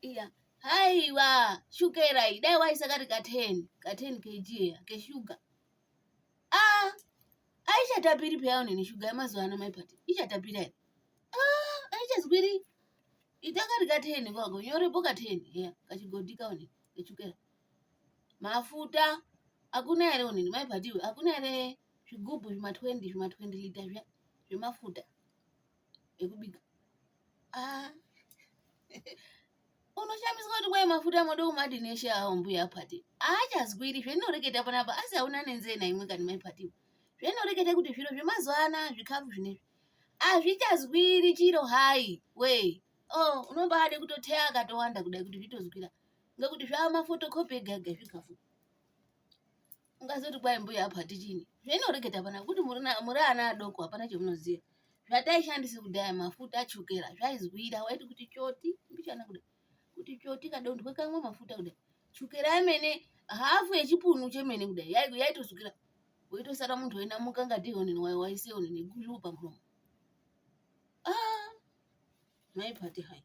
iya haiwa shukera iyi dai waisa kari ka 10 ka 10 kg iya keshuga ah aichatapiri peya unene shuga yemazuva ano maipati ichatapira here ah aichazwiri ita kari ka 10 kwako nyorepo ka 10 iya kachigodhi kaune keshukera mafuta hakuna here unene maipatiwe hakuna here zvigubhu zvima 20 zvima 20 lita zviya zvemafuta ekubika ah. unoshamiswa kuti kwaye mafuta moda kumati neshe awo mbuya pati aachazwiri zveninoreketa panapa asi hauna nenzee naimwe kani mai pati zvinoreketa kuti zviro zvemazuva ana zvikafu zvinezvi hazvichazwiri chiro hai wee oh unombaade kutoteya akatowanda kudai kuti zvitozwira ngekuti zvaamafotocopy ega ega zvikafu ungazoti kwai mbuya apa tichini zvainoreketa pana kuti muri ana adoko hapana chamunoziva zvataishandisa kudhaya mafuta achukera zvaizwira waiti kuti choti mbichana kuda kuti choti kadondwe kamwe mafuta kuda chukera yemene hafu yechipunu chemene kuda yaitosukira woitosara munhu wainamuka ngati honini wayo waise honini gulu pamuromo ah, maipati hai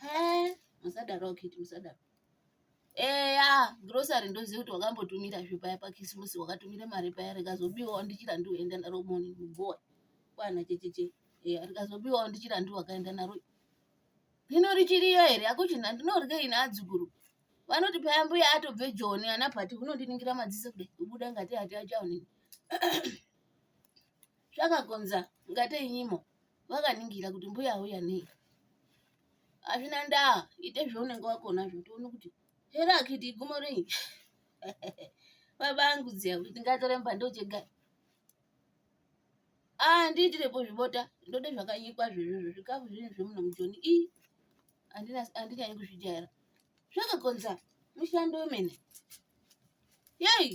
He, musadaro kiti musadaro. Eya, grocery ndoziva kuti wakambotumira zve paya pakisimusi wakatumira mari paya rikazobiwawo ndichira ndiuenda naro moni mugoa kwana checheche. Eya, rikazobiwawo ndichira ndiwakaenda naro. Hino richiriyo here akuchina ndinorye ini adzukuru. Vanoti paya mbuya atobve Joni ana Pati unondiningira madziso kudai kubuda ngati hati achaonini. Zvakakonza ngate inyimo. vakaningira kuti mbuya auya nei hazvina ndaa ite zvaunenge wakona zvo tione kuti here akiti igumo rei baba angu dziya kuti ndingatore mbando chega ah ndiitirepo zvibota ndode zvakanyikwa zvezvozvo zvikafu zvinhu zvemuno mujoni i handinyanyi kuzvijaira zvakakonza mushando wemene yei